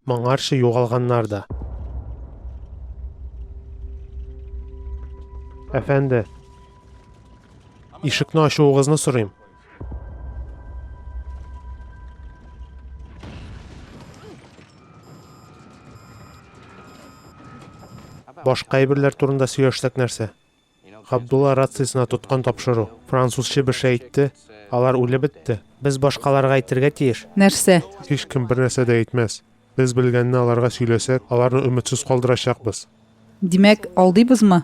Моңарчы югалганнар да. Әфәнде, ишекне ачуыгызны сорыйм. Башка әйберләр турында сөйләшсәк нәрсә? Габдулла рациясенә тоткан тапшыру. Француз чебеше әйтте, Алар үлеп бетте. Без башкаларга әйтергә тиеш. Нәрсә? Һичкем бернәрсә дә әйтмәс. Без белгәнне аларга сөйләсәк, аларны өметсез калдырачакбыз. Димәк, алдыйбызмы?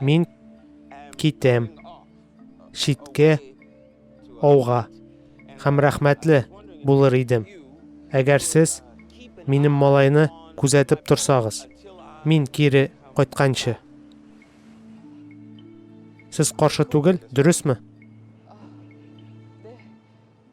Мин китәм читкә ауга һәм рәхмәтле булыр идем, әгәр сез минем малайны күзәтеп торсагыз, мин кире кайтканчы. Сез каршы түгел, дөресме?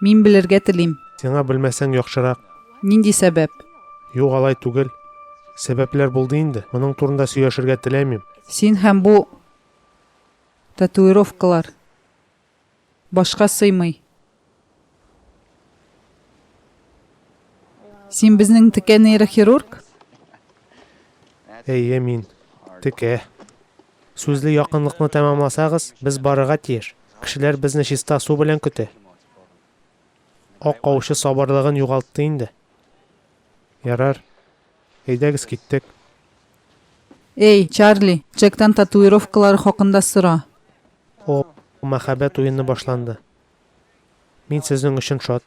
Мин белергә телим. Сиңа белмәсәң яхшырак. Нинди сәбәп? Юк, алай түгел. Сәбәпләр булды инде. Моның турында сөйләшергә теләмим. Син һәм бу татуировкалар. Башка сыймый. Син безнең текә нейрохирург? Әйе, мин. Текә. Сүзле якынлыкны тәмамласагыз, без барырга тиеш. Кешеләр безне чиста су белән көтә. Ак аучы сабырлыгын югалтты инде. Ярар. Әйдәгез, киттек. Эй, Чарли, Джектан татуировкалары хакында сора. О, мәхәббәт уены башланды. Мин сезнең өчен шат.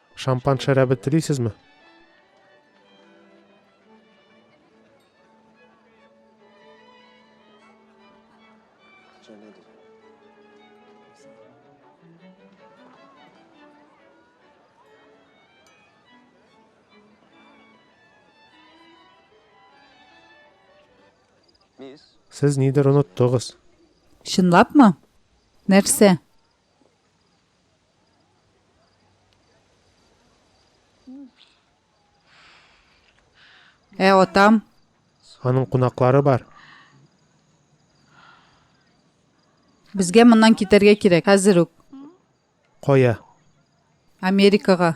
Шампан шәрабе телисезме? Сез нидер оныттыгыз. Чынлапмы? Нәрсә? Ә атам? Аның кунаклары бар. Безгә моннан китәргә кирәк, хәзер үк. Кая? Америкага.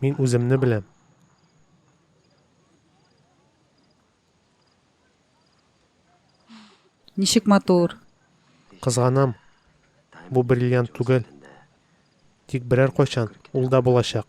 Мин үземне беләм. Ничек матур. Кызганам. Бу бриллиант түгел. Тик берәр кайчан ул да булачак.